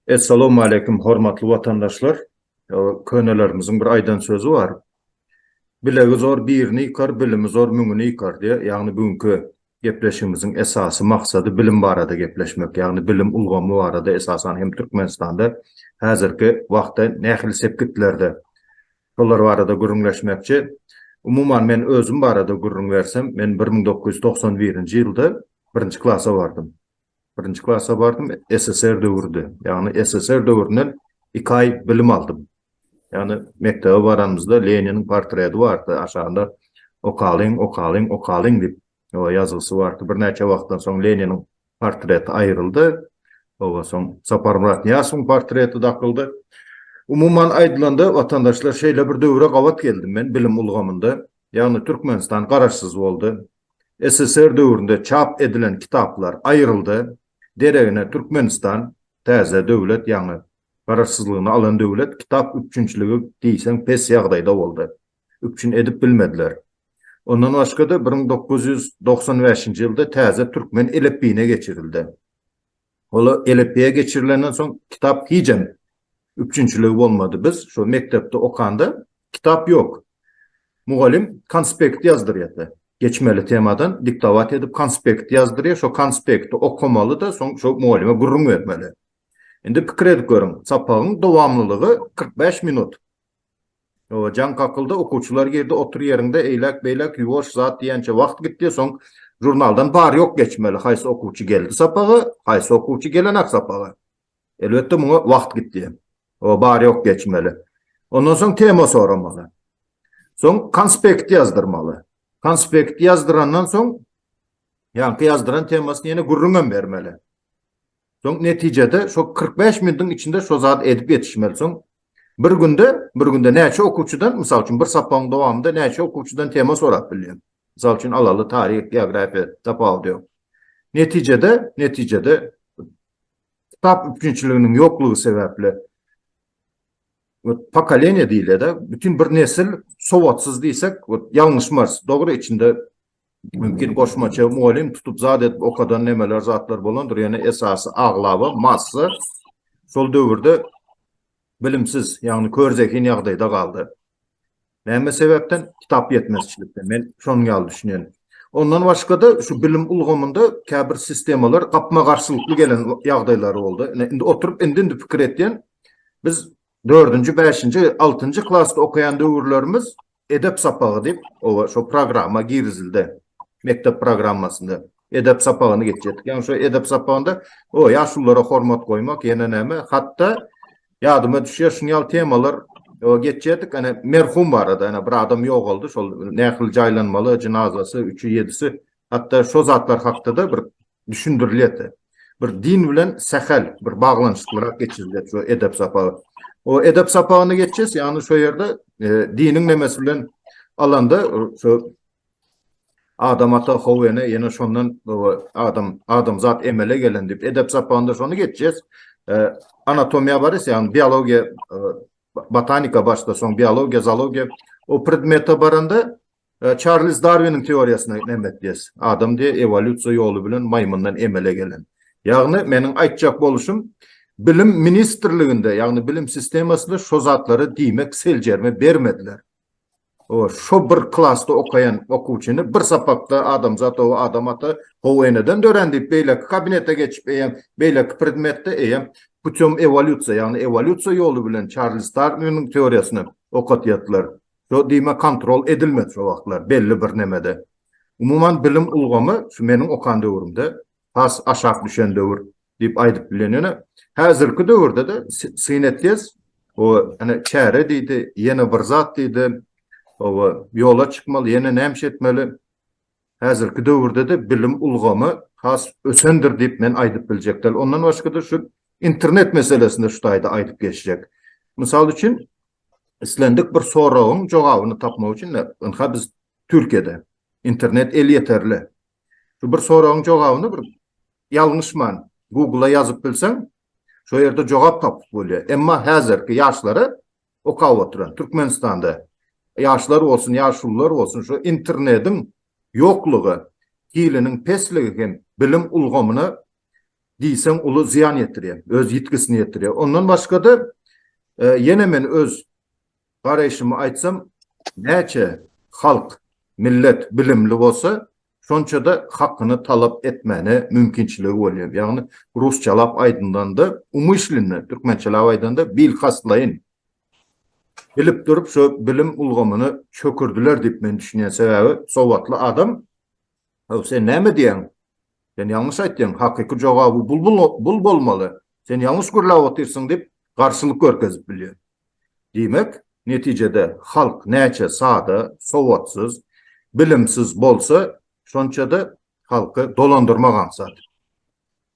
Essalawmaleýkim hormatly watandaşlar. Könelerimiziň bir aýdan sözi bar. Bilegi zor birini ýykar, bilimi zor müňini ýykar diýýär. Ýagny bu günki gepleşigimiziň esasy maksady bilim barada gepleşmek. Ýagny bilim ulgamy barada esasan hem Türkmenistanda häzirki wagtda nähili sepgitlerde Şolar barada gürrüňleşmekçi. Umuman, men özüm barada gürrüň bersem, men bir müň dokuz ýüz togsan birinji ýylda birinji klasa bardym. Birinji klasa bardym, SSR döwrüdi. Ýagny SSR döwründen iki aý bilim aldym. Ýagny mekdebe baranymyzda Leniniň portreti bardy, aşagynda okalyň, okalyň, okalyň diýip, Oba ýazgysy bar ki, birnäçe wagtdan soň Leniniň portreti aýryldy. Oba soň Saparmyrat Nyýasowyň portreti dakyldy. Umuman aýdylanda, watandaşlar, şeýle bir döwre gabat geldim men bilim ulgamynda. Ýagny Türkmenistan garaşsyz boldy. SSR döwründe çap edilen kitaplar aýryldy. Deregine Türkmenistan, täze döwlet, ýaňy garaşsyzlygyny alan döwlet, kitap üpjünçiligi diýseň pes ýagdaýda boldy. üpjün edip bilmediler. Ondan başga-da bir müň dokuz ýüz togsan bäşinji ýylda täze türkmen elipbiýine geçirildi. Ol elipbiýe geçirilenden soň kitap hijem üpjünçiligi bolmady. Biz şo mekdepde okanda kitap ýok. Mugallym konspekt ýazdyrýardy. Geçmeli temadan diktowat edip konspekt ýazdyrýar, şo konspekti okamaly-da, soň şo mugallyma gürrüň bermeli. Indi pikir edip görüň, sapagyň dowamlylygy kyrk bäş minut. Jaň kakyldy, okuwçylar girdi, otur ýeriňde, eýläk-beýläk ýuwaş zat diýençä wagt gitdi, soň žurnaldan bar-ýok geçmeli, haýsy okuwçy geldi sapaga, haýsy okuwçy gelenak sapaga. Elbetde, muňa wagt gitdi. Bar-ýok geçmeli. Ondan soň tema soramaly. Soň konspekt ýazdyrmaly. Konspekt ýazdyrandan soň ýaňky ýazdyran temasyny ýene gürrüňem bermeli. Soň netijede şo kyrk bäş minutiň içinde şo zady edip ýetişmeli. Soň bir günde, bir günde näçe okuwçydan, mysal üçin, bir sapagyň dowamynda näçe okuwçydan tema sorap bilýän. Mysal üçin, alaly, taryh, geografiýa, tapawudy ýok. Netijede, netijede kitap üpjünçiliginiň ýoklugy sebäpli wot pokoleniýa diýilýär-de, bütin bir nesil sowatsyz diýsek, wot ýalňyşmarys. Dogry, içinde Mümkin goşmaça mugallym tutup zat edip okadan nemeler zatlar bolandyr, ýöne esasy aglaba massa şol döwürde bilimsiz, ýagny kör zehin ýagdaýda galdy. Näme sebäpden? Kitap ýetmezçilikden. Men şonuň ýaly düşünýän. Ondan başga-da şu bilim ulgamynda käbir sistemalar gapma-garşylykly gelen ýagdaýlary boldy. Indi oturyp indi-indi pikir etýän, biz dördünji, bäşinji, altynjy klasda okaýan döwürlerimiz Edep sapagy diýip, oba şo programma girizildi. Mekdep programmasynda edep sapagyny geçýärdik. Ýagny şo edep sapagynda o ýaşulylara hormat goýmak, ýene näme, hatda ýadyma düşýär, şuny ýaly temalar o geçýärdik. Ana merhum barada, ana bir adam ýogaldy, şol nähili jaýlanmaly, jynazasy, üçi, ýedisi, hatda şo zatlar hakda-da bir düşündirilýärdi. Bir din bilen sähel bir baglanyşyklyrak geçirilýär şu edep sapagy. O edep sapagyny geçýäs, ýagny şu ýerde e, diniň nemesi bilen alanda şu adam ata howene ýene şondan adam adam zat emele gelen diýip edep sapagynda şony geçýäs. E, anatomiýa bar ýa biologiýa e, botanika başda soň biologiýa, zoologiýa o predmete baranda Çarlz Darwiniň teoriýasyna nämetdiýes? Adam diýe ewolýusiýa ýoly bilen maýmyndan emele gelen. Ýagny meniň aýtjak boluşym bilim ministrliginde, ýagny bilim sistemasynda şo zatlary diýmek seljerme bermediler. O şo bir klasda okaýan okuwçyny bir sapakda adamzat ow adam ata ow eneden dörän diýip beýleki kabinete geçip eýem beýleki predmetde eýem putem ewolýusiýa ýagny ewolýusiýa ýoly bilen Çarlz Darwiniň teoriýasyny okatýatlar. Şo diýme kontrol edilmedi şo wagtlar belli bir nemede. Umuman bilim ulgamy şu meniň okan döwrümde has aşak düşen döwür diýip aýdyp bilen ýöne häzirki döwürde-de syn etýäs o ene çäre diýdi ýene bir zat diýdi oba ýola çykmaly ýene näme etmeli häzirki döwürde-de bilim ulgamy has ösendir diýip men aýdyp biljek däl ondan başga-da şu internet meselesinde şu taýda aýdyp geçjek mysal üçin Islendik bir soragyň jogabyny tapmak üçin ynha biz Türkiýede internet elýeterli. Şu bir soragyň jogabyny bir ýalňyşman Google-a ýazyp bilseň, şo ýerde jogap tapyp bolýar. Emma häzirki ýaşlara okap oturan Türkmenistanda ýaşlar bolsun, ýaşulular bolsun şu internetiň ýoklugy, hiliniň pesligi hem bilim ulgamyna diýseň uly zyýan ýetirýär, öz ýitgisini ýetirýär. Ondan başga-da, ýene men öz garaýşymy aýtsam, näçe halk, millet bilimli bolsa, şonça-da hakyny talap etmäne mümkinçiligi bolýar. Ýagny, rusçalap aýdylanda, umyşlynda, türkmençelap aýdanda, bilkastlaýyn bilip durup, şo bilim ulgamyny çökürdiler diýip men düşünýän. Sebäbi, sowatly adam Haw, sen näme diýýäň? Sen ýalňyş aýtýaň, hakyky jogaby bul bolmaly. Sen ýalňyş gürläp otyrsyň diýip, garşylyk görkezip bilýär. Diýmek, netijede halk näçe sada, sowatsyz, bilimsiz bolsa, şonça-da halky dolandyrmak aňsat.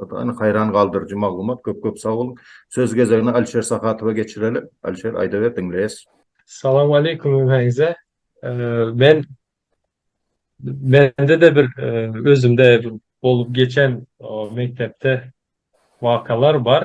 Ynha haýran galdyryjy maglumat köp köp sag boluň. Söz gezegini Alişer Sahatowa geçireli. Alişer aýdaber diňleýäs. Salam aleýkum hemmäňize. Men mende-de bir özümde bolup geçen mekdepde wakalar bar.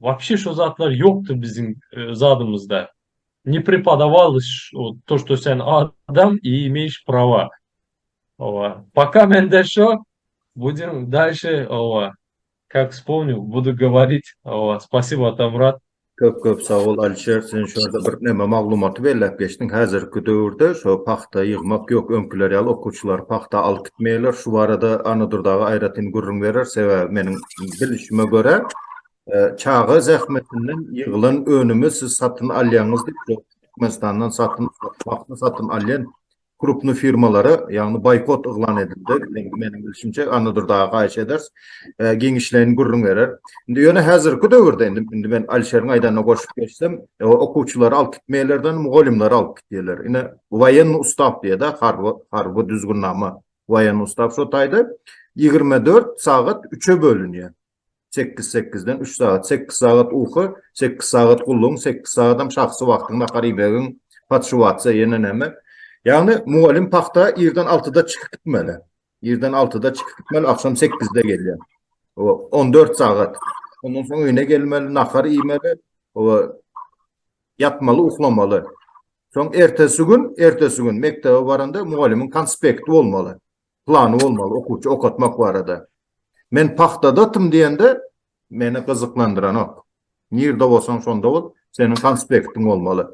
Wapşe şo zatlar ýokdy biziň zadymyzda. Ne prepodawalys o to što sen adam i imeýş prava. Owa. Poka mende şo. Budim dalşe owa kak spomnil budu govorit owa spasibo Atamyrat. Köp köp sag bol Alişer sen şu ýerde bir neme maglumaty belläp geçdiň häzirki döwürde şo pagta ýygmak ýok öňkiler ýaly okuwçylary pagta alyp gitmeýärler şu barada Anadurdaga aýratyn gürrüň berer sebäbi meniň bilişime görä, çaga zähmetinden ýygylan önümi siz satyn alýaňyz diýip, Türkmenistandan satyn paghta satyn alýan krupny firmalara, ýagny boýkot yglan edildi. Meniň bilşimçe, Annadur daga haýyş ederis, giňişleýin gürrüň berer. Indi ýöne häzirki döwürde, indi, indi men Alişeriň aýdanyna goşup geçsem, okuwçylary alyp gitmeýärler-de, mugallymlary alyp gitýärler. Ine, woýennoý ustaw diýýär-de, harby, harby düzgünnama Waýan ustaw şo taýda ýigrimi dört sagat üçe bölünýär. Sekiz sekizden üç sagat. Sekiz sagat uky, sekiz sagat gullugyň, sekiz sagatam şahsy wagtyň, nahar iýmegiň, podşuwatsa ýene näme. Ýagny mugallym pagta irden altyda çykyp gitmeli. Irden altyda çykyp gitmeli, agşam sekizde gelýär. Oba, on dört sagat. Ondan soň öýüne gelmeli, nahar iýmeli, oba, ýatmaly, uklamaly. Soň ertesi gün, ertesi gün mekdebe baranda mugallymyň konspekti bolmaly. Plany bolmaly okuwçy okatmak barada. Men pahtadatym diýende meni gyzyklandyranok. Nirde bolsaň şonda bol, seniň konspektiň bolmaly.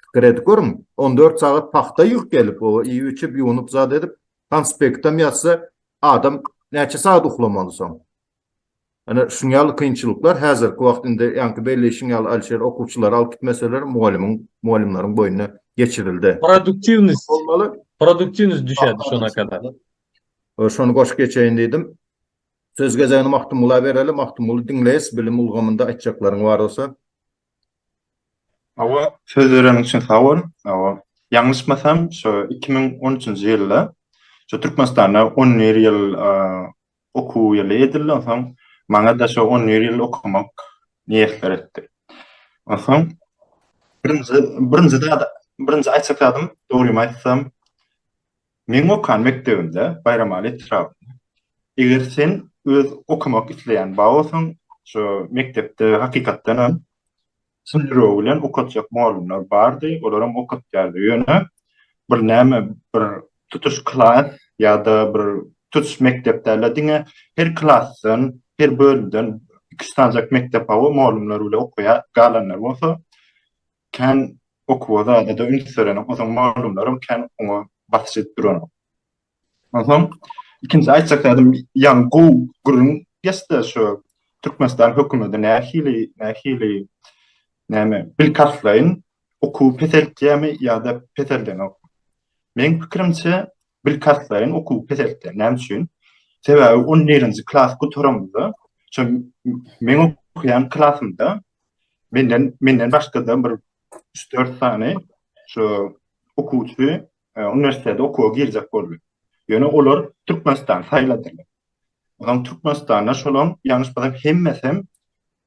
Pikir edip görüň, 14 sagat pahta ýygyp gelip, o iýip-içip, ýuwunyp zat edip, konspektem ýazsa, adam näçe sagat uklamaly soň? Ine, şuň ýaly kynçylyklar häzirki wagt indi ýaňky belleýşiň ýaly Alişer okuwçylary alyp gitmeseler mugallymyň mugallymlaryň boýnuna geçirildi. Produktiwnost bolmaly. Produktiwnost düşerdi şona kadar. Şony goşup geçeýin diýdim. Söz gezegini Magtymgula bereli. Magtymguly diňleýis bilim ulgamynda aýtjaklaryň bar bolsa. Hawa, söz bereniň üçin sag bol. Hawa, ýalňyşmasam, şu iki müň on üçünji ýylda şu Türkmenistanda on bir ýyl Okuw ýyly edilden soň, maňa-da şo on bir ýyl okamak miýesser etdi. Onsoň birinji, birinji zat, birinji aýtjak zadym, dogrymy aýtsam, meň okan mekdebimde, Baýramaly etrabynda, eger sen öz okamak isleýän ba bolsaň, şo mekdepde hakykatdan hem Şol ýüregi bilen okatjak mugallymlar bardy, olaram okatýardy. Ýöne bir näme, bir tutuş klas ýa-da bir tutuş mekdep däl-de, diňe her klasdan, her bölümden iki-üç sanjak mekdep hawa, mugallymlar bile okaýar, galanlar bolsa kän okuwa zada-da üns berenok, o soň mugallymlaram kän oňa basyş edip duranok. Onsoň ikinji aýtjak zädim ýaňy gowy gürrüň geçdi şu Türkmenistan hökümeti nähili nähili näme bil kartlaýyn okuw peseltýämi ýa-da peseldenok. Meň pikirimçe bil kartlaýyn okuw peseltýär. Näme üçin? Sebäbi on birinji klas gutaramda şu meň okuýan klasymda menden menden başga-da bir üç-dört sany şu okuwçy uniwersitete okuwa girjek boldy. Ýöne olar Türkmenistany saýladylar. Onsoň Türkmenistanda şolaň ýalňyş bolsam hemmesem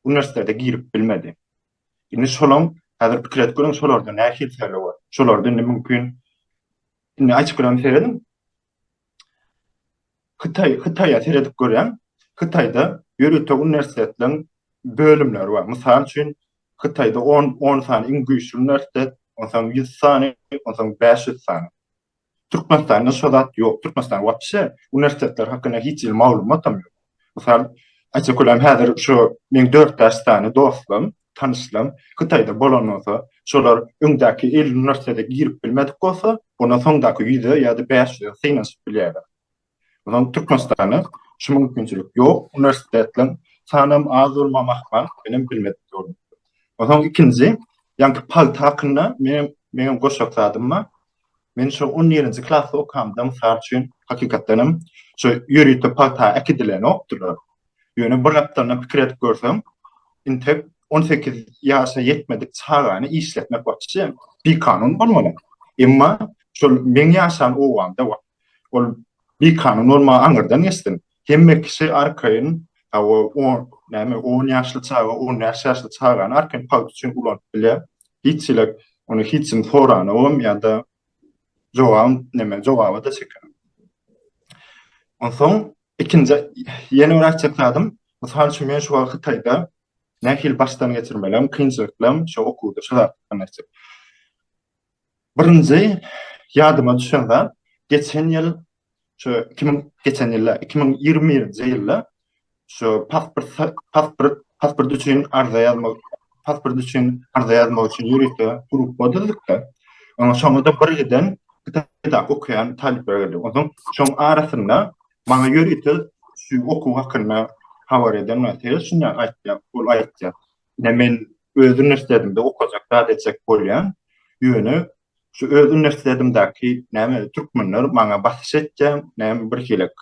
uniwersitete girip bilmedi. Indi şolaň häzir pikir edip görüň şolarda nähili tejribe bar. Şolarda indi mümkin indi açyk bilen serediň. Hytaý, Hytaýa seredip görýän. Hytaýda ýörite uniwersitetleriň bölümleri bar. Mysal üçin, Hytaýda on, on sany iň güýçli uniwersitet, onsoň ýüz sany, onsoň bäş ýüz sany. Türkmenistanda şo zat ýok. Türkmenistan wapşe uniwersitetler hakynda hiç hili maglumatam ýok. Mysal, aýtsak bolýar, häzir şu meň dört bäş sany dostum, tanyşlaň, Hytaýda bolan bolsa, şolar öňdäki elli uniwersitete girip bilmedik bolsa, onda soňdaky ýüze ýa-da bäş ýüze synanyşyp bilýärler. Onsoň Türkmenistanda şu mümkinçilik ýok, uniwersitetleriň sanam az bolmagam ahmal, menem bilmedik ýolum. Onsoň ikinji, ýaňky pagta hakynda menem, meňem goşak zadym bar. Men şo on ýerinji klasda okamda, mysal üçin, hakykatdan hem, şo ýörite pagta äkidilenokdylar. Ýöne bir gapdalyndan pikir edip görsem, intek on sekiz ýaşa ýetmedik çagany işletmek waçi bikanun bolmaly. Emma şol meň ýaşan obamda, Ol bikanun bolmagy aňyrdan geçsin. Hemme kişi arkaýyn, hawa, on, näme, on ýaşly çaga, on bäş ýaşly çagany arkaýyn pagt üçin ulanyp bilýär. Hiç çilek, ony hiç kim soranogam ýa-da jogabam, näme, jogaba-da çeken. Onsoň, ikinji, ýene bir aýtjak zadym, mysal üçin, men şu wagt Hytaýda nähili başdan geçirmelerimi, kynçylyklarymy şo okuwda, şo zatlardan aýtjak. Birinji ýadyma düşen zat, geçen ýyl, şu iki müň, geçen ýyl däl, iki müň ýigrimi birinji ýylda şu pasport, pasport, pasport üçin arza ýazmak, pasport üçin arza ýazmak üçin ýörite gruppa düzdük-de, oňa şoňa-da bir giden Kitapda okaýan talyplar girdi. Onsoň şoň arasynda maňa ýörite şu okuw hakynda habar eden wagty şunday aýtdy, ol aýtdy. Ine men öz uniwersitetinde okajak zat etjek bolýan. Ýöne şu öz uniwersitetindäki näme türkmenler maňa basyş etýä, näme bir hilik.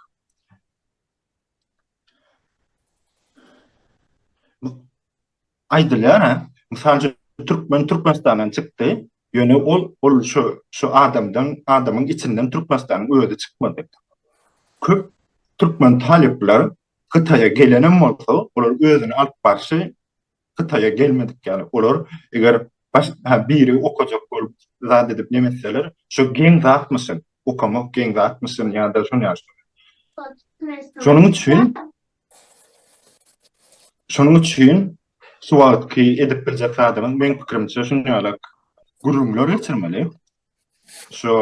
Aýdylýar-a, mysal üçin türkmen Türkmenistandan çykdy, ýöne ol ol şu şu adamdan adamyň içinden Türkmenistanyň özi çykmady. Köp türkmen talyplar Hytaýa gelenem bolsa, olar özüni alyp barşy Hytaýa gelmedik ýaly. Olar eger baş ha biri okajak bolup zat edip nemetseler, şu geň zatmyşyn, okamak geň zatmyşyn ýa-da şuny ýaly şuny. Şonuň üçin Şonuň üçin şu wagtky edip biljek zadyňyz meň pikirimçe şuny ýaly gürrüňler geçirmeli. Şu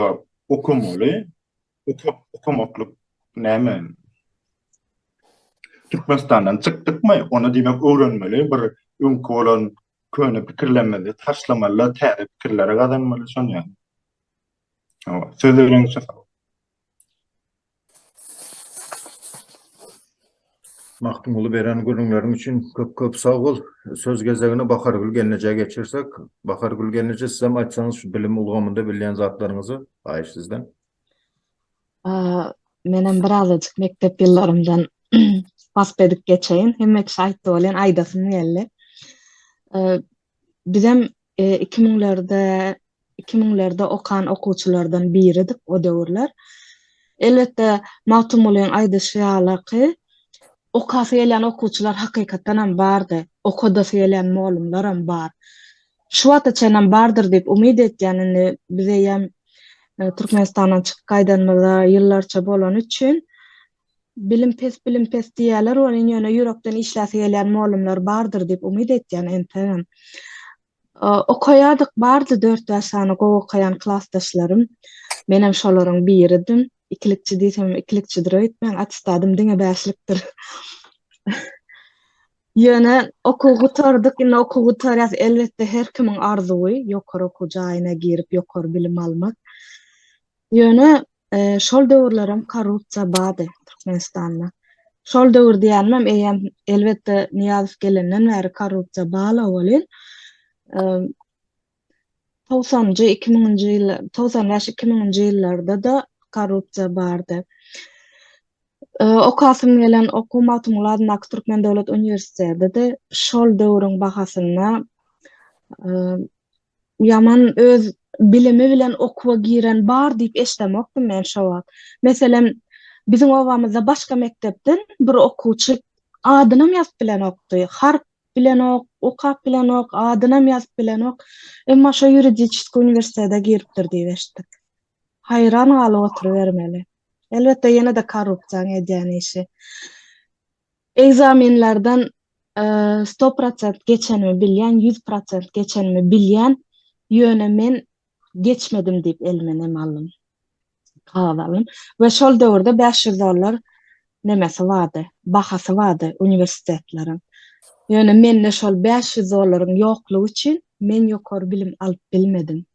okamaly, Okap okamaklyk näme? Türkmenistandan çykdykmy, onda diýmek öwrenmeli, bir öňki bolan köne pikirlerimizi taşlamaly-da, täze pikirleri gazanmaly, şony ýaly. Hawa, söz beriňizçe sag boluň. Magtymguly beren gürrüňleriň üçin köp-köp sag bol. Söz gezegini Bahargül gelnejä geçirsek. Bahargül gelneje, sizem aýtsaňyz şu bilim ulgamynda bilýän zatlaryňyzy, haýyş sizden. menem birazajyk mekdep ýyllarymdan wasp edip geçeýin. Hemme kişi aýtdy welin aýdasym geldi. Bizem 2000-lerde e, 2000-lerde okan okuwçylardan biridik o döwürler. Elbetde Magtymgulyň aýdyşy ýaly ki, okasy gelýän okuwçylar hakykatdan hem bardy. Okadasy gelýän mugallymlar hem bar. Şu wagta çenlem bardyr diýip umyt etýän indi biz eýýäm Türkmenistandan çykyp gaýdanymyza ýyllarça bolany üçin bilim pes bilim pes diýýäler welin ýöne ýürekden işläsi gelýän mollumlar bardyr diýip umyt etýän ensegem okaýardyk bardy dört bäş sany gowy okaýan klasdaşlarym menem şolaryň biridim ikilikçi diýsemem ikilikçidir öýtmäň attestadym diňe bäşlikdir Ýöne okuw gutardyk, indi okuw gutarýas. Elbetde, her kimiň arzuwy ýokary okuw jaýyna girip, ýokary bilim almak. Ýöne şol döwürlerem korrupsiýa bardy Türkmenistanda. Şol döwür diýýänimem, eýýäm, elbetde, Nyýazow gelenden bäri korrupsiýa bala welin, togsanjy, iki müňünji ýyllar, togsan bäş, iki müňünji ýyllarda-da korrupsiýa bardy. Okasym gelen okuw Magtymguly adyndaky Türkmen döwlet uniwersitedidi. Şol döwrüň bahasynda ýaman öz bilimi bilen okuwa giren bar diýip eşdemokdym men şo wagt. Meselem, biziň obamyzda başga mekdepden bir okuwçy adynam ýazyp bilenokdy. Harp bilenok, okap bilenok, adynam ýazyp bilenok. Emma şo ýuridiçeskiý uniwersitete giripdir diýip eşitdik. Haýran galyp oturybermeli. Elbetde ýene-de korrupsiýaň edýän işi. Ekzamenlerden sto prosent geçenimi bilýän, ýüz prosent geçenimi bilýän, ýöne men geçmedim diýip elime nem aldym. we şol döwürde bäş ýüz dollar nemesi bardy, bahasy bardy uniwersitetleriň. Ýöne mende şol bäş ýüz dollaryň ýoklugy üçin men ýokary bilim alyp bilmedim.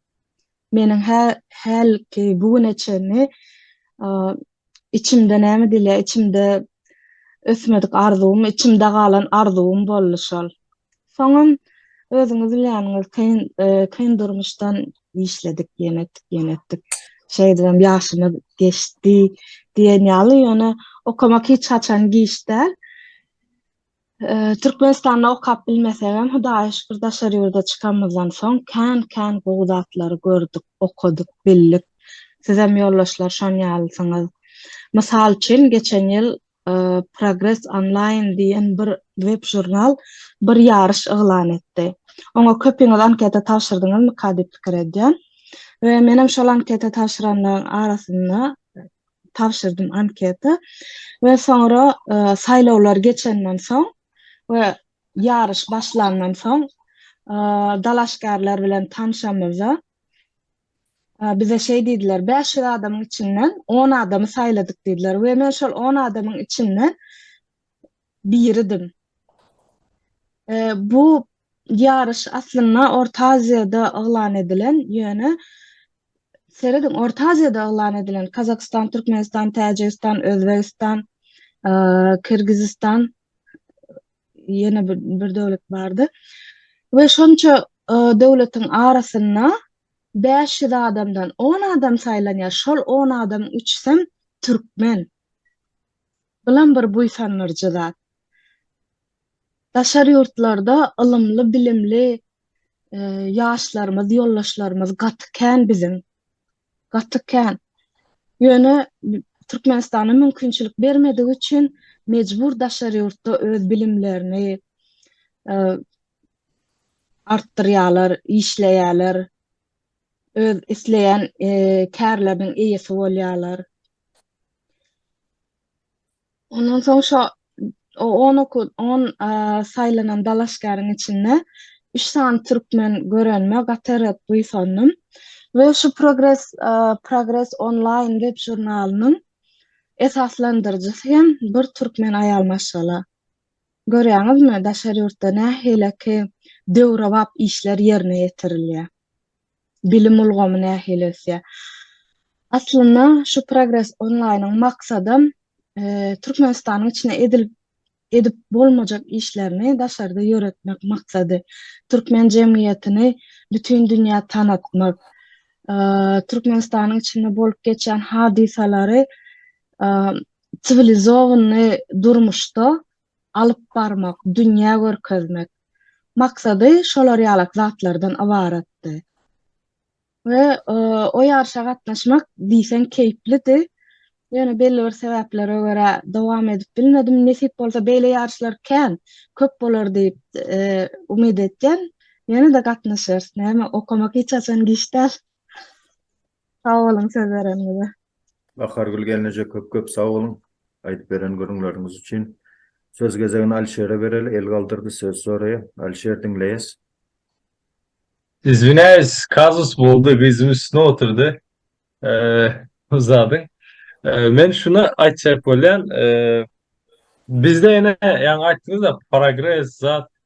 Meniň hä, hälki bu güne çenli içimde näme diýilýär, içimde ösmedik arzuwym, içimde galan arzuwym boldy şol. Soňam özüňiz bilýäniňiz, kyn, e, kyn durmuşdan işledik, ýene etdik, ýene etdik. Şeýdibem ýaşymyz geçdi diýen ýaly, ýöne okamak hiç haçan giç däl. E, Türkmenistanda okap bilmesegem, Hudaýa şükür, daşary ýurda çykanymyzdan soň kän-kän gowy zatlary gördük, okadyk, bildik. Sizem ýoldaşlar şon ýalysyňyz. Mysal üçin, geçen ýyl Progress Online diýen bir web-žurnal bir ýaryş yglan etdi. Oňa köpiňiz anketa tabşyrdyňyzmyka diýip pikir edýän. We menem şol anketa tabşyranlaryň arasynda tabşyrdym anketa. We soňra saýlawlar geçenden soň we ýaryş başlandan soň dalaşgärler bilen tanşamyzda, Bize şeý diýdiler, Bäş ýüz adamyň içinden on adamy saýladyk diýdiler we men şol on adamyň içinden biridim. Bu ýaryş aslynda Orta Aziýada yglan edilen, ýöne serediň, Orta Aziýada yglan edilen, Kazakystan, Türkmenistan, Täjigistan, Özbegistan, Kyrgyzystan, ýene bir bir döwlet bardy. We şonça e, döwletiň arasynda 500 adamdan 10 adam saýlanýar. Şol 10 adam üçsem türkmen. Bulam bir buýsandyrjy zat. Daşary ýurtlarda ylymly, bilimli e, ýaşlarymyz, ýoldaşlarymyz gaty kän biziň. gaty kän. Ýöne Türkmenistana mümkinçilik bermedigi üçin mejbur daşary ýurtda öz bilimlerini e, artdyrýarlar, işleýärler, öz isleýän e, kärleriniň eýesi bolýarlar. Ondan soň şo o on oku on saýlanan dalaşgäriň içinde üç sany türkmen görenime gaty-ret buýsandym we şu progres progres onlaýn web žurnalynyň esaslandyryjysy hem bir türkmen aýal maşgala. Görýäňizmi, daşary ýurtda nähileki döwrebap işler ýerine ýetirilýär. bilim ulgamy nähili ösýär. Aslynda şu Progress Online-yň maksadam Türkmenistanyň içinde edilip edip bolmajak işlerini daşarda ýöretmek maksady. Türkmen jemgyýetini bütin dünýä tanatmak, Türkmenistanyň içinde bolup geçýän hadysalary siwilizowany durmuşda alyp barmak, dünýä görkezmek maksady şolar ýalak zatlardan ybaratdy. We o ýaryşa gatnaşmak diýseň keýplidi. Ýöne belli bir sebäplere görä dowam edip bilmedim. Nesip bolsa beýle ýaryşlar kän, köp bolar diýip umyt edýän. Ýene-de gatnaşarys, näme, okamak hiç haçan giç däl. Sag boluň söz bereniňize. Bahargül gelneje köp köp sag boluň aýdyp beren gürrüňleriňiz üçin. Söz gezegini Alişere bereli, el galdyrdy söz soraýa. Alişer diňleýäs. Izwinayis kazus boldy gyzym üstüne otyrdy bu zadyň men şuny aytjak bolyan bizde ene yani aytdynyzda progres zat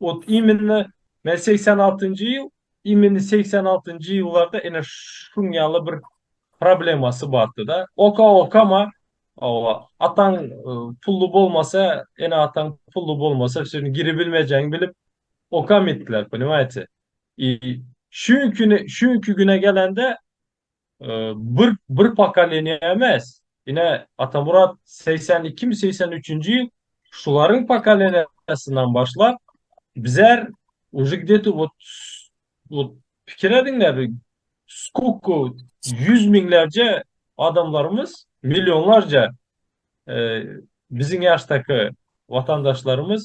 Ot imenine men segsen altynjy ýyl imeni segsen altynjy ýyllarda ene şuň ýaly bir problemasy bardy da oka okama owa ataň pully bolmasa ene ataň pully bolmasa sen giri bilmejegini bilip okamytdylar ponimaýte i şuňkine şuňki güne gelende Bir bir pokoleniýa emes, ine Atamyrat segsen ikimi, segsen üçünji ýyl şularyň pokoleniýasyndan başlap bizar uje gde-to wot wot pikir ediň-le bir skолько ýüz müňlerje adamlarymyz, millionlarja biziň ýaşdaky watandaşlarymyz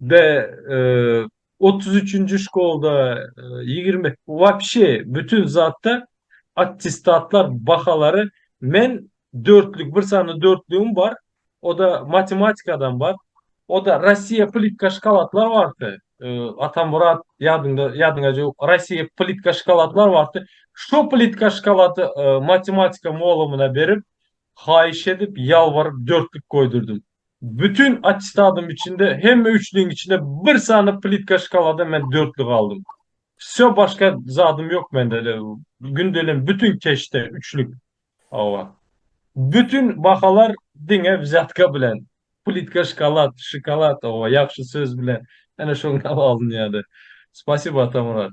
Be, otuz üçünji şkolda ýigrimi, wapşe bütin zatda attestatlar bahalary men dörtlük, bir sany dörtlügim bar, o-da matematikadan bar, o-da Rossiýa plitka şokoladlar bardy, Atamyrat, ýadyňda, ýadyňa jöwuk, Rossiýa plitka şokoladlar bardy, şo plitka şokolady matematika molumyna berip, haýyş edip, ýalbaryp dörtlük goýdurdym. Bütin attestadym içinde hemme üçlügiň içinde bir sany plitka şkalada men dörtli galdym. Wsýo başga zadym ýok mende de gündelem bütin keşde üçlük. Hawa. Bütin bahalar diňe wzýatka bilen. Plitka şkalad, şokolad, hawa ýagşy söz bilen ene şoňa alynýady. Spasibo Atamyrat.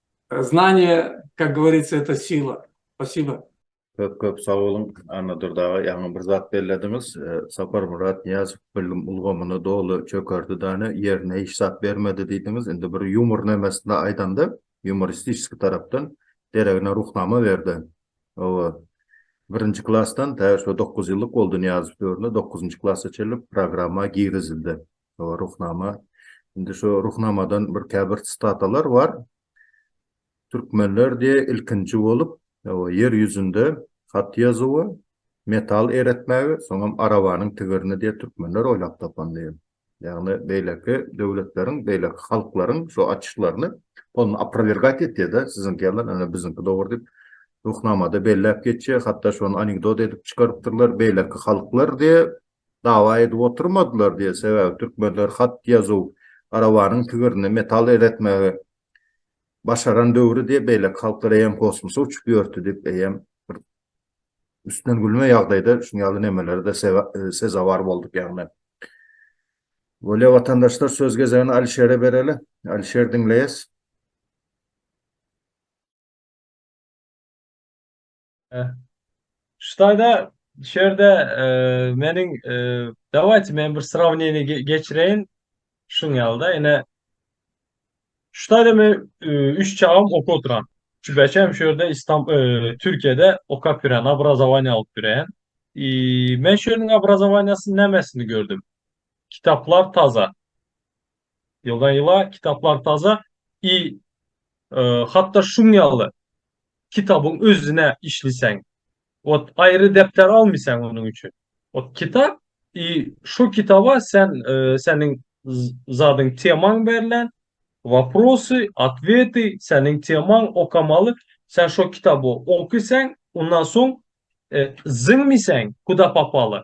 Znanie, kak govoritsa, eto sila. Spasiba. Köp köp sag boluň Annadur daga ýaňy bir zat bellediňiz Saparmyrat Nyýazow bilim ulgamyny doly çökerdi dane ýerine hiç zat bermedi diýdiňiz indi bir ýumor nemesinde aýdanda ýumoristiski tarapdan deregine ruhnama berde oba birinji klasdan tä şu dokuz ýyllyk boldy Nyýazow döwründe dokuzynjy klasa çenli programma girizildi Şo Ruhnama. Indi şo Ruhnamadan bir käbir statalar bar. Türkmenler diye ilkinji bolup ýer ýüzünde hat ýazuwy, metal eretmäge, soňam arabanyň tigirini diye türkmenler oýlap tapan diye. Ýagny beýleki döwletleriň, beýleki halklaryň şo açyşlaryny ol aprowergat etýär-de, siziňki ýaly ene biziňki dogry diýip, Ruhnamada belläp geçýär, hatda şony anekdot edip çykarypdyrlar, beýleki halklar diye dawa edip oturmadylar diýer, sebäbi türkmenler hat-ýazuw, arabanyň tigirine metal eretmegi başaran döwri diýip, beýleki halklar eýýäm kosmosa uçup ýörti diýip, eýýäm bir üstünden gülme ýagdaýda şuň ýaly nemelere-de sezewar bolduk ýagny. Bolýa watandaşlar, söz gezegini Alişere bereli. Alişer, diňleýäs. Eh. Şutaýda şerde meniň dawaýt men bir srawniýe geçireýin. Şuň ýalda ine Şutaýda men üç çagam okup oturan. Şu beşem şerde İstan Türkiýede okap ýören, obrazowaniýa alyp ýören. Men şunyň obrazowaniýasyny nämesini gördüm. Kitaplar taza. Ýyla-ýyla kitaplar taze i hatda şuň ýaly kitabyň özüne işliseň, ot aýry depder almyseň onuň üçin. Ot kitap i şo kitaba sen seniň zadyň temaň berlen, waprosy, otweti seniň temaň okamaly, sen şo kitaby okyseň, ondan soň zyňmyseň kuda popaly,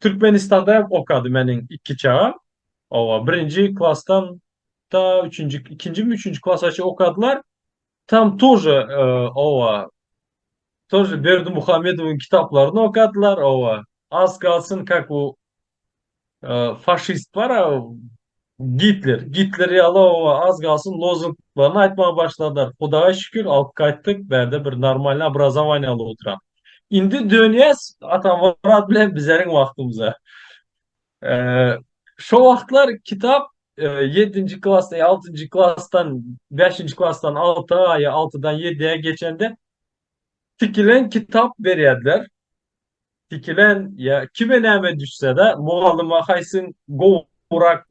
Türkmenistanda hem okady meniň iki çagam. Owa, birinji klasdan ta üçünji, ikinjimi, üçünji klasa çenli okadylar. Tam tože, e, owa, tože Berdimuhamedowyň kitaplaryny okadylar, owa. Az kalsyn, kak u Faşist bar a Gitler. Gitler ýaly owa az galsyn lozunglaryny aýtmaga başladylar. Hudaýa şükür alyp gaýtdyk. Bärde bir normalny obrazowaniýaly oturan. Indi dönýäs Atamyrat bilen bizeriň wagtymyza. Şo wagtlar kitap ýedinji klasda ýa altynjy klasdan bäşinji klasdan alta ýa altydan ýedä geçende tikilen kitap berýärdiler. Sikilen ýa kime näme düşsede mugallyma haýsyň gowurak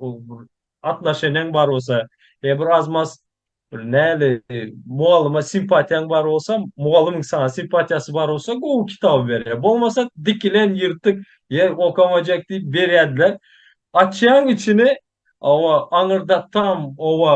atnaşeniň bar bolsa ýa bir az mas bir näli mugallyma simpatiýaň bar bolsa mugallymyň saňa simpatiýasy bar bolsa gowy kitaby berýär bolmasa dikilen ýyrtyk ýer okamajak diýip berýädiler açýaň içini owa aňyrdatdam owa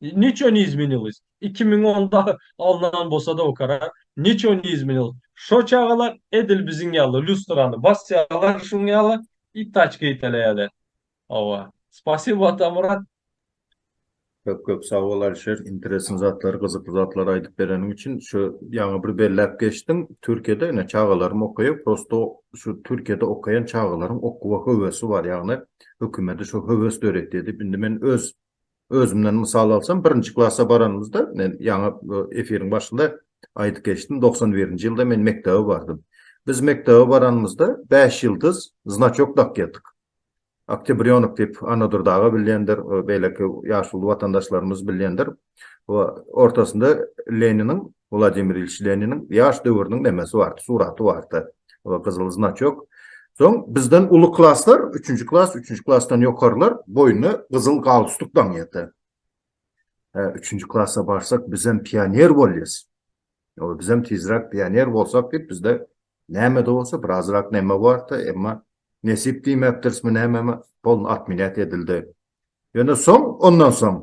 Niço ne izminilis? Iki müň onda alnan bolsada o karar. Niço ne izminilis? Şo çagalar edil biziň ýaly lýustrany basýalar şuň ýaly i taçka iteleýäler. Hawa. Spasibo Atamyrat. Köp köp sag bol Alişer interesn zatlary gyzykly zatlary aýdyp bereniň üçin. Şu ýaňy bir belläp geçdiň Türkiýede ine çagalarym okaýar prosto şu Türkiýede okaýan çagalaryň okuwa höwesi bar ýagny hökümedi şu höwes döretýär diýip indi men öz Özümden mysal alsam, birinji klasa baranymyzda, men ýaňy efiriň başynda aýdyp geçdim, togsan birinji ýylda men mekdebe bardym. Biz mekdebe baranymyzda bäş ýyldyz znaçok dakýardyk. Oktýabrýonok diýip, Annadur daga bilýändir, beýleki ýaşuly watandaşlarymyz bilýändir. Ortasynda Leniniň Wladimir Ilýiç Leniniň ýaş döwrüniň nemesi bardy, suraty bardy, gyzyl znaçok. Soň bizden uly klaslar, üçünji klas, üçünji klasdan ýokarylar boýnuna gyzyl galstuk daňýardy. Hä, üçünji klasa barsak, bizem pioner bolýas. Ýa-da bizem tizräk pioner bolsak diýip, bizde näme-de bolsa birazrak neme bardy, emma nesip diýmekdirismi nämemi, polny otmenýat edildi. Ýöne soň, ondan soň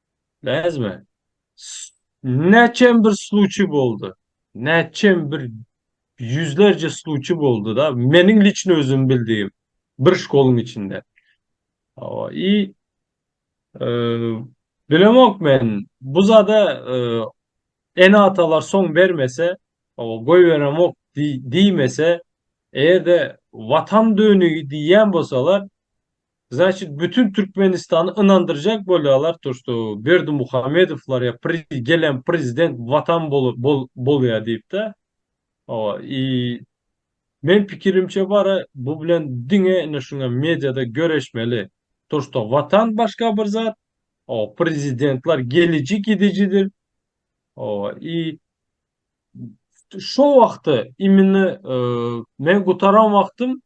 Näzme, näçem bir sluçiý boldy. Näçem bir ýüzlerje sluçiý boldy-da, meniň liçno özüm bildigim, bir şkoluň içinde. Hawa, i bilemok men, bu zada ene-atalar soň bermese, hawa, goýberemok diýmese, eger-de Watan dönügi diýýän bolsalar, Znaçit bütün Türkmenistany ynandyrjak bolýalar to što Berdimuhamedowlar ýa pri gelen prezident watan bolu bol bolýa diýipdä owa i men pikirimçe bara bu bilen diňe ine şuňa mediada göreşmeli to što watan başga bir zat owa prezidentlar geliji gidijidir owa i şo wagty immini men gutaran wagtym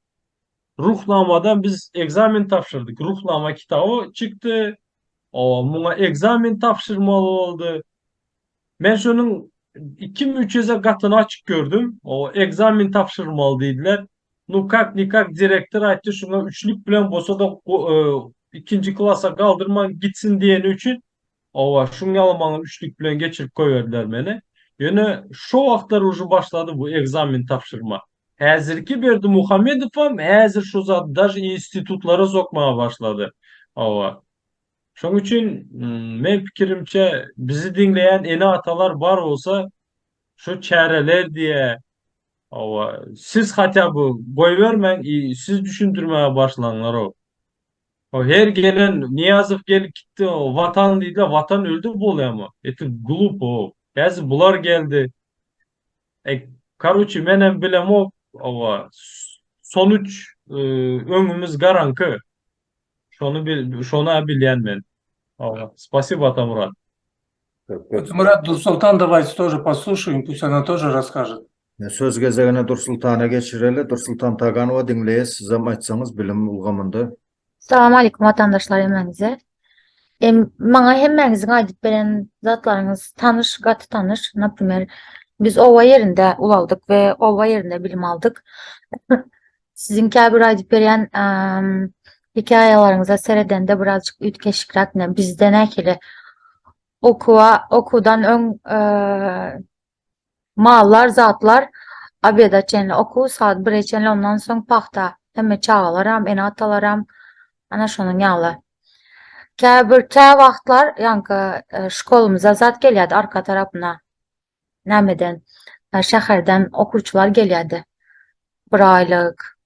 Ruhnamadan biz ekzamen tabşyrdyk. Ruhnama kitaby çykdy. O, muňa ekzamen tabşyrmaly boldy. Men şonuň ikimi üç eze gatyny açyk gördüm. O, ekzamen tabşyrmaly diýdiler. Nu kak ni kak direktor aýtdy, şuňa üçlük bilen bolsa-da, e, ikinji klasa galdyrman gitsin diýeni üçin Hawa, şuň ýaly maňa üçlük bilen geçirip goýberdiler meni. Ýöne şo wagtlar uje başlady bu ekzamen tabşyrma. Häzirki Berdimuhamedowam häzir şu zady daže institutlara sokmaga başlady. Hawa. Şoň üçin meň pikirimçe bizi diňleýän ene-atalar bar bolsa şu çäreler diýe. Hawa, siz hatýa by goýbermäň i siz düşündirmäge başlaňlarow. O her gelen Niýazow gelip gitdi Watan diýdiler Watan öldü bolýamy eti glupo häzir bular geldi e karuçi menem bilemok owa sonuç öňümiz garaňky şony bil şona bilýän men owa spasibo Atamurat. Atamurat Dursoltan davaýte tor posluşaýyn pus ona tor raskažet. Söz gezegini Dursultana geçireli. Dursultan Taganowa diňleýäs, sizem aýtsaňyz bilim ulgamynda. Salam aleýkum watandaşlar hemmäňize. Maňa hemmäňiziň aýdyp beren zatlaryňyz tanyş, gaty tanyş. Naprimer, biz oba ýerinde ulaldyk we oba ýerinde bilim aldyk. Siziň käbir aýdyp berýän hekaýalaryňyza seredende birazjyk üýtgeşikräk, ine bizde nähili okuwa, okuwdan öň Mallar, zatlar obeda çenli okuw, sagat bire çenli, ondan soň pagta. Hemme çagalaram, ene-atalaram, ana şonuň ýaly. Käbir, kä wagtlar, ýaňky şkolymyza zat gelýärdi arka tarapyna, nämeden, şäherden okuwçylar gelýärdi. Bir aýlyk,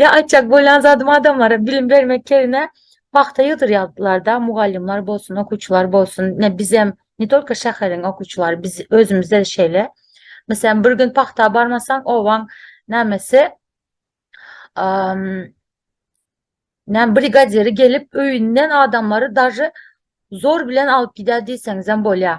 Ýa aýtjak bolýan zadym adamlara bilim bermek ýerine pagta ýygdyrýardylarda mugallymlar bolsun okuwçylar bolsun ne bizem ne tolko şäheriň okuwçylary biz özümizde şeýle meselem bir gün pagta barmasaň obaň nämesi näme brigadiri gelip öýünden adamlary daži zor bilen alyp gidýär diýseňizem bolýar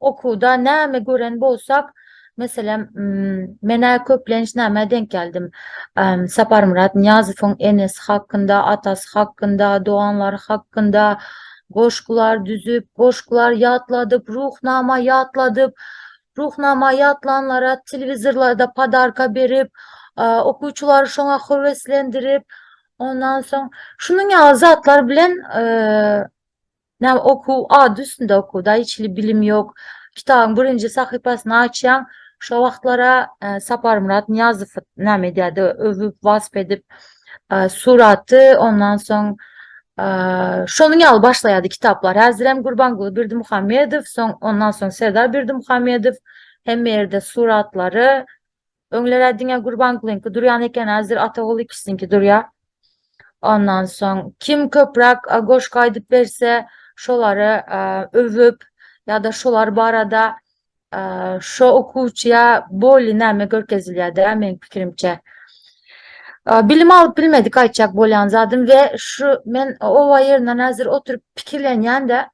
Okuwda näme gören bolsak, meselem, men-ä köplenç nämä denk geldim? Saparmyrat Nyýazowyň enesi hakynda, atasy hakynda, doganlary hakynda goşgular düzüp, goşgular ýatladyp, Ruhnama ýatladyp, Ruhnama ýatlanlara telewizorlarda podarka berip, okuwçylary şoňa höweslendirip, ondan soň şunuň ýaly zatlar bilen Näme okuw, ady üstünde okuw da, hiç hili bilim ýok. Kitabyň birinji sahypasyny açýaň, şo wagtlar-a Saparmyrat Nyýazow näme edýärdi, öwüp, wasp edip, suraty, ondan soň şonuň ýaly başlaýardy kitaplar. Häzirem Gurbanguly Berdimuhamedow, soň ondan soň Serdar Berdimuhamedow, hemme ýerde suratlary, Öňler-ä diňe Gurbangulyňky durýan eken, häzir Ataguly kişiniňki durýar. Ondan soň, kim köpräk goşgy aýdyp berse, şolary öwüp ýa-da şolar barada şo okuwçyja bolýa näme görkezilýär-dä, meniň pikirimçe. Bilim alyp bilmedik aýtjak bolýan zadym we şu men oba ýerinden häzir oturyp pikirlenýän-de,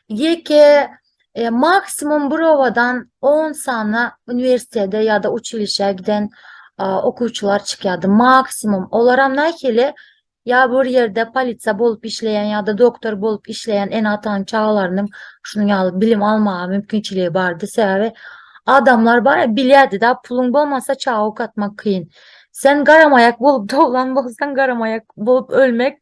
Ýeke, e, maksimum bir obadan on sany uniwersitete ýa-da uçilişä giden okuwçylar çykýardy. Maksimum. Olaram nähili? ýa bir ýerde polisiýa bolup işleýän ýa-da doktor bolup işleýän ene-atanyň çagalarynyň şunuň ýaly bilim almaga mümkinçiligi bardy. Sebäbi adamlar bar, bilýärdi-de, puluň bolmasa çaga okatmak kyn. Sen garamaýak bolup doglan bolsaň, garamaýak bolup ölmek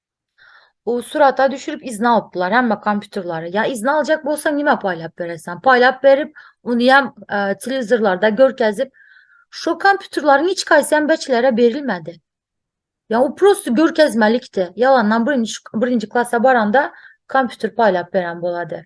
O surata düşürip izni alypdylar hemme kompýuterleri. Ya izni aljak bolsaň nime paýlap berersen? Paýlap berip, ony hem e, telewizorlarda görkezip, şu kompýuterleriň hiç haýsy hem beçilere berilmedi. Ya o prosto görkezmelikdi. Ýalandan birinji birinji klasa baranda kompýuter paýlap beren bolady.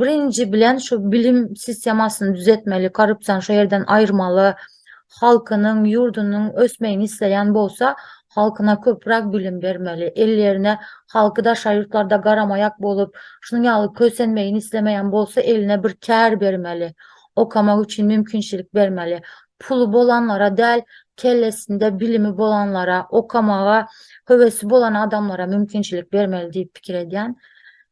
Birinji bilen şu bilim sistemasyny düzetmeli, korrupsiýany şu ýerden aýyrmaly. Halkynyň, ýurdunyň ösmegini isleýän bolsa, halkyna köpräk bilim bermeli. Ellerine halky daşary ýurtlarda garamaýak bolup, şunuň ýaly kösenmegini islemeýän bolsa, eline bir kär bermeli. Okamak üçin mümkinçilik bermeli. Puly bolanlara däl, kellesinde bilimi bolanlara, okamaga höwesi bolan adamlara mümkinçilik bermeli diýip pikir edýän.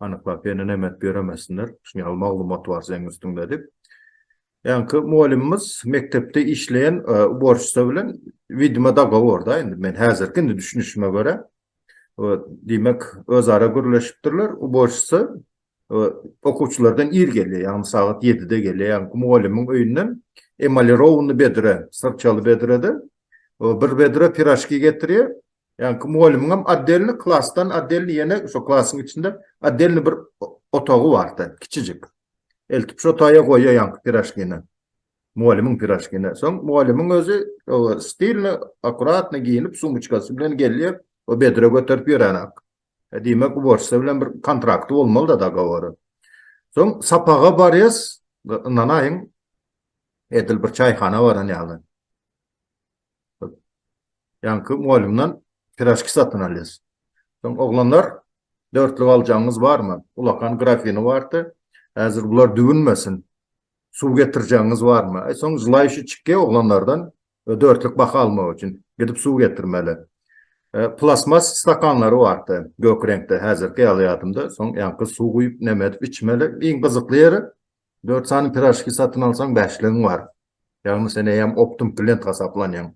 anyklap hene nemet ýöremesinler, şuny ýaly maglumat bar seň üstüňde diýip. Ýaňky mugallymymyz mekdepde işleýän uborşça bilen widima dogoworda indi men häzirki indi düşünişime görä diýmek özara gürleşipdirler uborşça okuwçylardan ir gelýär ýagny sagat ýedide gelýär ýaňky mugallymyň öýünden emalirowny bedre syrçaly bedrede bir bedre piraşki getirýär Ýaňky mugallymyňam otdelny klasdan otdelny ýene şo klasyň içinde otdelny bir otagy bardy, kiçijik. Eltip şo otaýa goýýar ýaňky piraşkini. Mugallymyň piraşkini. Soň mugallymyň özi stilny, akuratny geýnip, sumyçkasy bilen gelýär, o bedre göterip ýöränak. Diýmek, uborşça bilen bir kontrakty bolmaly-da, dogowory. Soň sapaga barýas, ynanaýyň, edil bir çaýhana baran ýaly. Ýaňky mugallymdan piraşki satyn alýas. Soň oglanlar, dörtlük aljagyňyz barmy? Ulakan grafini bardy. Häzir bular düwünmesin. Suw getirjegiňiz barmy? Aý, soň želaýşi çykýa oglanlardan dörtlük baha almak üçin. Gidip suw getirmeli. Plastmas stakanlary bardy, gök reňkde, häzirki ýaly ýadymda. Soň ýaňky suw guýup, neme edip içmeli. Iň gyzykly ýeri, dört sany piraşki satyn alsaň, bäşligiň bar. Ýagny sen eýýäm optum klient hasaplanýaň.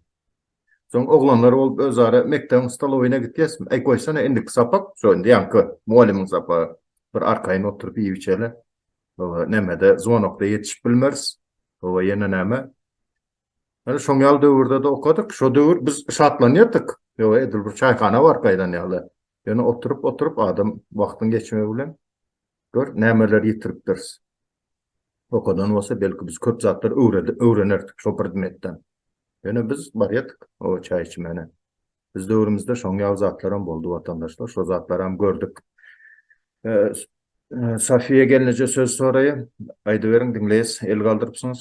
Soň oglanlar bolup özara mekdebiň stolowyna gitýäsmi? Aý goýsana indiki sapak, şo indi ýaňky mugallymyň sapagy. Bir arkaýyn oturyp iýip-içeli. Hawa, nämede, zwonokda ýetişip bilmeris. Hawa, ýene näme? Hany şoň ýaly döwürde-de okadyk. Şo döwür biz şatlanýardyk. Hawa, edil bir çaýhana baryp gaýdan ýaly. Ýöne oturyp oturyp adam wagtyň geçmegi bilen gör nämeleri ýitiripdiris. Okadan bolsa belki biz köp zatlary öwrenerdik şo predmetden. Ýöne biz barýardyk o çaý içmäne. Biz döwrümizde şoň ýaly zatlaram boldy watandaşlar şo zatlaram gördük. Safiýa gelneje söz soraýa aýdyberiň diňleýäs el galdyrypsyňyz.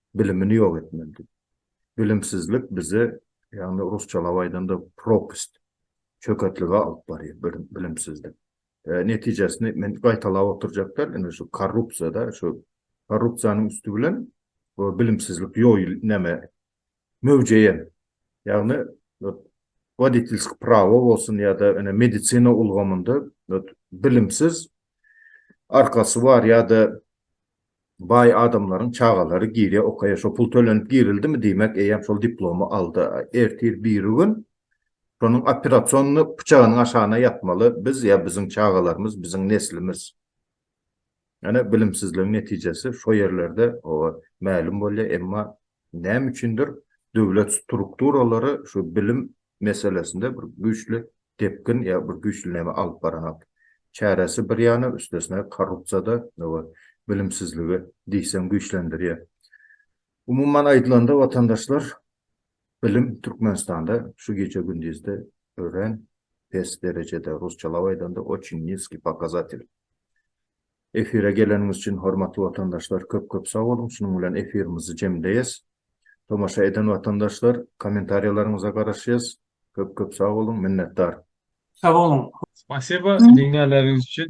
bilimini ýok etmeli. Bilimsizlik bizi, ýagny rusçalap aýdanda, propast, çöketlige alyp barýar bilimsizlik. Netijesini men gaýtalap oturjak däl, indi şu korrupsiýa-da, şu korrupsiýanyň üsti bilen bilimsizlik ýoýul, näme, möwjeýär. Ýagny woditilskiý prawo bolsun ýa-da ene medisina ulgamynda bilimsiz arkasy bar ýa-da baý adamlaryň çagalary girýär okaýa şo pul tölenip girildimi diýmek eýýäm şol diplomy aldy ertir birigün şonuň operasonyny pyçagynyň aşagyna ýatmaly biz ýa biziň çagalarymyz biziň neslimiz ýöne bilimsizligiň netijesi şo ýerlerde oba mälim bolýar emma Näme üçindir, döwlet strukturalary şu bilim meselesinde bir güýçli depgin ýa bir güýçli näme alyp baranok. Çäresi bir ýana, üstesine korrupsiýada we bilimsizligi diýseň güýçlendirýär. Umuman aýdylanda, watandaşlar, bilim Türkmenistanda şu gije-gündizde örän pes derejede, rusçalap aýdanda, oçin niskiý pokazatelý. Efire geleniňiz üçin hormatly watandaşlar köp köp sag boluň şunuň bilen efirimizi jemleýes. Tomaşa eden watandaşlar kommentariýalaryňyza garaşýas köp köp sag boluň minnetdar. Sag boluň. Spasiba diňlänleriňiz üçin.